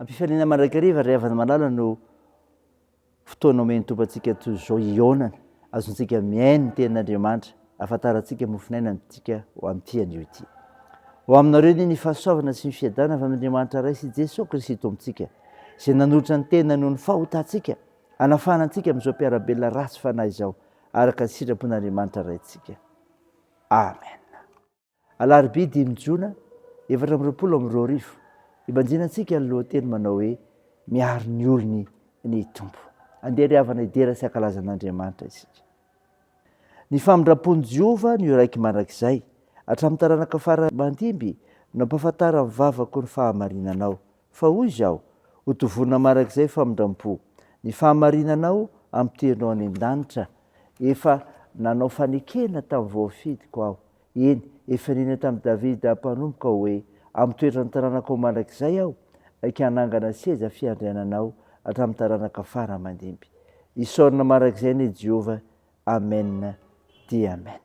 Am-pifaliana mandrakariva ry havana malala no fotoana omen'ny Tompo antsika toy izao hihaonana, azontsika mihaino ny tenin'Andriamanitra, ahafantarantsika mofon'aina amintsika ho amin'ity anio ity. Ho aminareo anie ny fahasoavana sy ny fiadanana avy amin'Andriamanitra Ray sy Jesoa Kristy Tompontsika, izay nanolotra ny tenany ho ny fahotantsika, hanafahana antsika amin'izao mpiara-belona ratsy fanahy izao, araka ny sitrapon'Andriamanitra Raintsika. Amen. Alarobia dimy jona efatra amby roapolo amby roa arivo, ibanjina antsika ny lohateny manao hoe Miaro ny olony ny Tompo. Andeha ry havana hidera sy hankalaza an'Andriamanitra isika. Ny famindram-pon'i Jehovah no iraiky mandrakizay, hatramin'ny taranaka fara mandimby no ampahafantaran'ny vavako ny fahamarinanao. Fa hoy Izaho, Ho dovonina marak'izay famindram-po. Ny fahamarinanao ampidirinao any an-danitra. Efa nanao fanekena tamin'ny voafidiko Aho, eny, efa nino tamin'i Davida mpanompoko Aho hoe, Amin'ny toetran'ny taranakao mandrakizay Aho ika hanangana seza fiandriananao hatramin'ny taranaka fara aman-dimby. Isaorana marak'izay anie Jehovah. Amena dia Amena.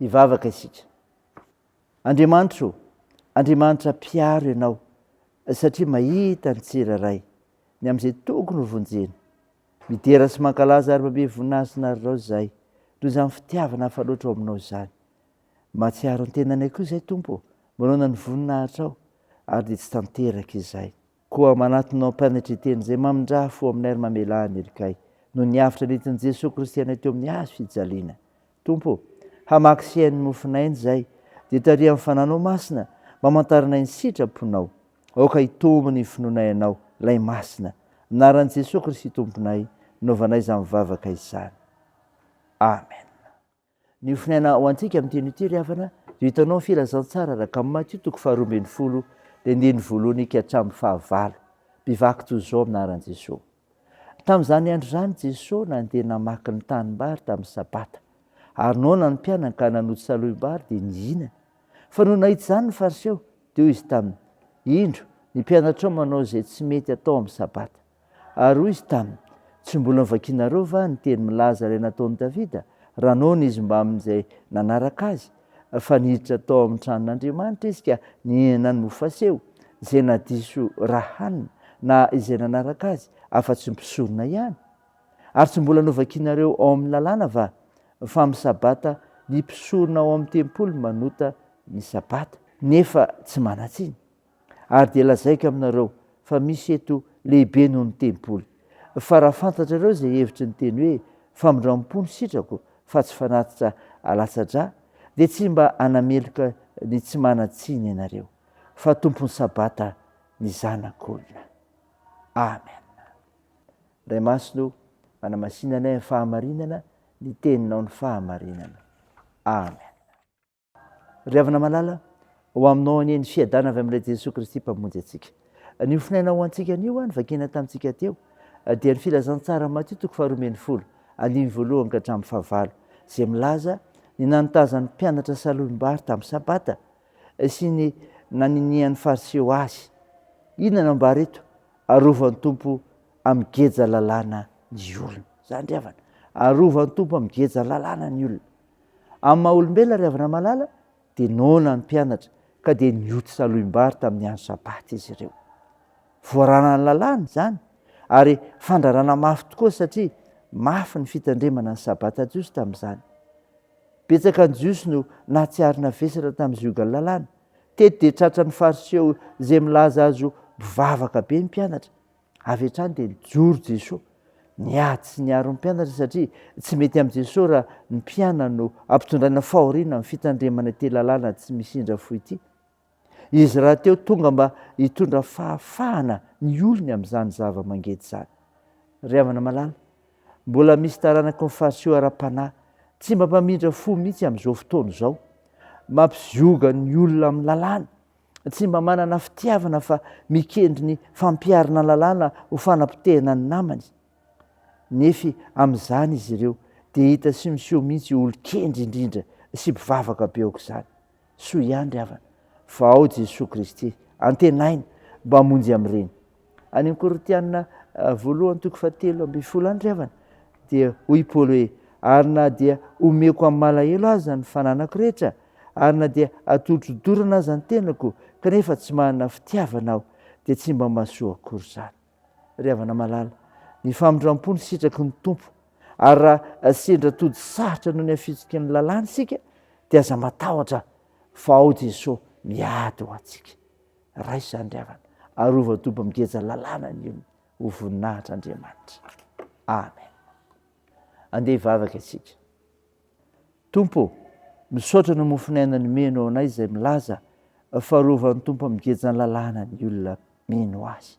Hivavaka isika. Andriamanitro, Andriamanitra mpiaro ianao satria mahita ny tsirairay, ny amin'izay tokony ho vonjena. Midera sy mankalaza ary mamehy voninahisinareo raozy izahay, noho izany fitiavana hafa loatra ao aminao izany. Mahatsiaro ny tenanay koa izahay, Tompo ô, manaona ny voninahitrao, ary dia tsy tanteraka izay. Koa manatona ao am-panetren-tena izay mamindrà fo aminay ary mamelà ny helikay, noho ny avotra nentin'i Jesoa Kristy anay teo amin'ny hazo fijaliana. Tompo ô, hamaky sy haino ny mofon'aina izay, dia tarihan'ny Fananao Masina mba hamantaranay ny sitra-ponao. Aoka hitombo ny finoanay Anao, Ilay Masina. Amin'ny anaran'i Jesoa Kristy Tomponay no nanaovanay izany vavaka izany. Amen. Ny ofinaina ho antsika amin'ny teny ity ry havana dia hitanao ny filazantsara araka amin'ny Matio toko faharoa ambin'ny folo, ny andininy voalohany ka hatramin'ny fahavalo. Mpivaky toy izao amin'ny anaran'i Jesoa. Tamin'izany andro izany Jesoa nandeha namaky ny tanimbary tamin'ny Sabata. Ary noana ny mpianany ka nanoto saloim-bary dia nihinana. Fa nony nahita izany ny Fariseo, dia hoy izy taminy, Indro, ny mpianatrao manao izay tsy mety atao amin'ny Sabata. Ary hoy izy taminy, Tsy mbola novakianareo va ny teny milaza ilay nataon'i Davida, raha noana izy mbamin'izay nanaraka azy, fa niditra tao amin'ny tranon'Andriamanitra izy ka nihinana ny mofo faseho, izay na diso ra hanina na izay nanaraka azy afa-tsy ny mpisorona ihany? Ary tsy mbola novakinareo ao amin'ny lalàna va fa amin'ny sabata ny mpisorona ao amin'ny tempoly manota ny sabata, nefa tsy manan-tsiny? Ary dia lazaiko aminareo fa misy eto lehibe noho ny tempoly. Fa raha fantatrareo izay hevitry ny teny hoe, Famindram-po no sitrako, fa tsy fanatitra alatsa-drà, dia tsy mba hanameloka ny tsy manan-tsiny ianareo, fa tompon'ny Sabata ny Zanak'olona. Amen. Ray Masina o, manamasina anay amin'ny fahamarinana, ny Teninao ny fahamarinana. Amen. Ry havana malala, ho aminao anie ny fiadana avy amin'ilay Jesoa Kristy Mpamonjy antsika. Anio fonaina ho antsika anio ho'a ny vakina tamintsika teo dia ny filazantsara Matio toko faharoa ambin'ny folo, andininy voalohany ka hatramin'ny fahavalo, izay milaza ny nanotazan'ny mpianatra salohim-bary tamin'ny Sabata sy ny naninian'ny Fariseo Azy. Inona no ambara eto? Arovan'ny Tompo amin'ny geja lalàna ny olona. Izany ry havana, arovan'ny Tompo amin'ny geja lalàna ny olona. Amin'ny maha olombelona ry havana malala dia noana ny mpianatra ka dia nioty salohim-bary tamin'ny andro sabata izy ireo. Voaranan'ny lalàna izany ary fandrarana mafy tokoa satria mafy ny fitandremana ny sabata jiosy tamin'izany. Betsaka ny jiosy no nahatsiaro navesatra tamin'ny ziogan'ny lalàna. Teto dia tratran'ny fariseo izay milaza azy ho mpivavaka be ny mpianatra Avy hatrany dia nijoro Jesoa. Niady sy niaro ny mpianatra satria tsy mety amin'i Jesoa raha ny mpianany no ampitondraina fahoriana amin'ny fitandremana ity lalàna tsy misy indra fo ity. Izy rahateo tonga mba hitondra fahafahana ny olony amin'izany zava-mangeja izany. Ry havana malala, mbola misy taranaky ny Fariseo ara-panahy tsy mba mpamindra fo mihitsy amin'izao fotoana izao. Mampizioga ny olona amin'ny lalàna tsy mba manana fitiavana fa mikendry ny fampiharana lalàna ho fanapotehana ny namany. Nefy amin'izany izy ireo dia hita sy miseho mihitsy ho olon-kendry indrindra sy mpivavaka be aok'izany. Soa ihany ry havana fa ao Jesoa Kristy, antenaina mba hamonjy amin'ireny. Any amin'ny Korintianina ah, voalohany toko fahatelo ambin'ny folo any ry havana, dia hoy i Paoly hoe, Ary na dia omeko amin'ny malahelo aza ny fananako rehetra, ary na dia atolotro dorana aza ny tenako, kanefa tsy manana fitiavana aho, dia tsy mba mahasoa akory izany. Ry havana malala, ny famindram-po no sitraky ny Tompo, ary raha sendra tody sarotra noho ny hafitsiky ny lalàna isika, dia aza matahotra, fa ao Jesoa miady ho antsika. Raiso izany ry havana. Arova dobo migeja lalàna ny olona ho voninahitr' Andriamanitra. Amen. Andeha hivavaka isika. Tompo, misaotra ny mofon'ny aina nomeno ho anay izay milaza fa arovan'ny Tompo amin'ny gejan'ny lalàna ny olona mino azy.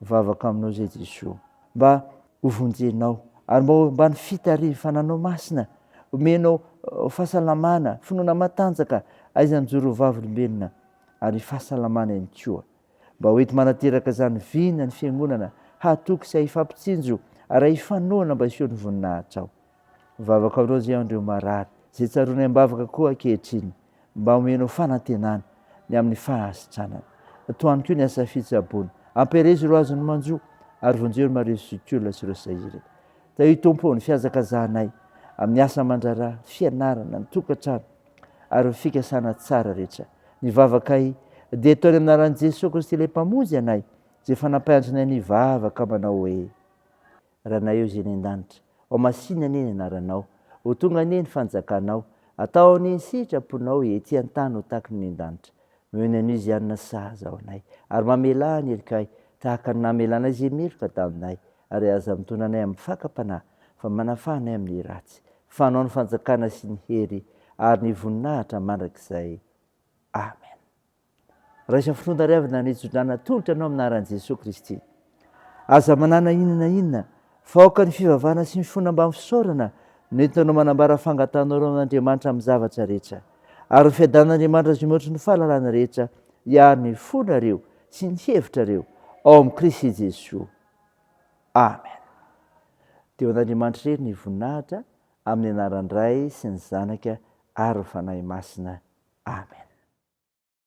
Mivavaka aminao izay Jesoa mba ho vonjenao ary mba ho ambany fitarifananao masina, omenao fahasalamana, finoana matanjaka, aizan'ny mijoro ho vavolombelona ary fahasalamana ihany koa mba ho enti manateraka izany vina ny fiangonana hahatoky sy hahifampitsinjo ary hahifanohana mba hiseho ny voninahitrao. Mivavaka aminao izay an'ireo marary, izay tsaroanay am-bavaka koa ankehitriny, mba homenao fanantenana ny amin'ny fahasitranana. Atohano koa ny asa fitsaboana. Ampiherezo ireo azon'ny manjo, ary vonjeo ry Maria Sokiola sy ireo sahirana. Tahio Tompo ny fihazakazahanay amin'ny asa aman-draharaha, ny fianarana, ny tokantrano, ary ny fikasana tsara rehetra. Ny vavakay dia atao ny anaran'i Jesoa Kristy ilay Mpamonjy anay, izay fanampaiandrinay ny vavaka manao hoe. Ranaieo Zeny an-danitra, ao masina anie ny anaranao, ho tonga anie ny fanjakanao, atao anie ny sitraponao ety an-tany ho taky ny any an-danitra. Noho ny Anosianina sahaza ao anay, ary mamelà ny helikay tahaka ny namelanay izay meloka taminay, ary aza mitondra anay amin'ny fakam-panahy, fa manafaha anay amin'ny ratsy, fa anao ny fanjakana sy ny hery ary ny voninahitra mandrakizay. Amen. Raiso finoan-tariavina ny tso-drano atolotra anao amin'ny anaran'i Jesoa Kristy. Aza manana inona na inona fa aoka ny fivavahana sy ny finoana ambany fisaorana no entinao manambara fangatanao ireo amin'Andriamanitra amin'ny zavatra rehetra. Ary ho fiadanan'Andriamanitra izay mihoatra ny fahalalana rehetra hiaro ny fonareo sy ny hevitrareo ao amin'i Kristy Jesoa. Amen. Dia ho an'Andriamanitra irery ny voninahitra amin'ny anaran'ny Ray sy ny Zanaka ary ny Fanahy Masina. Amen.